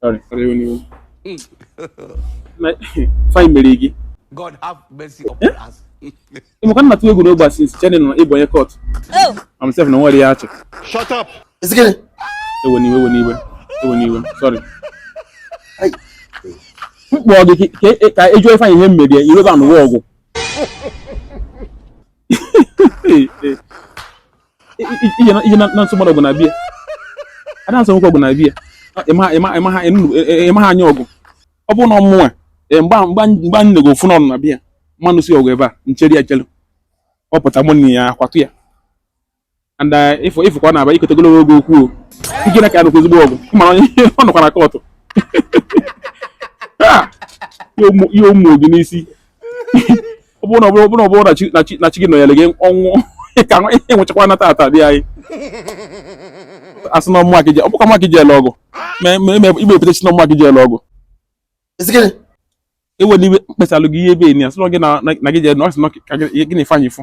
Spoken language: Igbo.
Sorry, sorry, onye iwu. Na- Ifeanyị mere gị. God have mercy upon us. Ị ma ka m na-atụ egwu n'ogbe a since chee na ị bụ onye kọt. I'm safe na nwere ya achị. Shut up. Ị sị gịnị? Ewena iwe, ewena iwe, ewena iwe. Sorry. Ai. M kpọọ gị ka- ka- ka ị jụọ Ifeanyị ihe m mere ya, i wee bịa nụwa ọgụ. ị je na-anụso mmadụ ọgụ na be ya a da-anụso nwoke ọgụ na be ya ịma ha anya ọgụ ọ bụrụ na ọ mụnwa mgbe anyị nego ofu n'ọnụ na be ya m ma-anụsi ọgụ ebe a m chere ya chelu ọ pụta mụ na ya akwatụ ya and ịfụ ịfụkwa na-aba ikọta ogologo oge okwu ike na ka ya nụkwa ezigbo ọgụ ịmara onye ọ nọkwa na kọtụ ya ụmụ gị n'isi ọ bụrụ na ọ bụrụ na ọ bụrụ na chi gị nọnyere gị ọnwụ ka ị nwụchakwa na tata bịa anyị asị na ọmụma gị ọ bụkwa mma gị ji ele ọgụ igbe epụta sị na ọmụma gị ji ele ọgụ ewela iwe mkpesalụ gị ihe ebe enyi asịrọ gị na gị jee na ọ sị na gị na-efe anyị fụ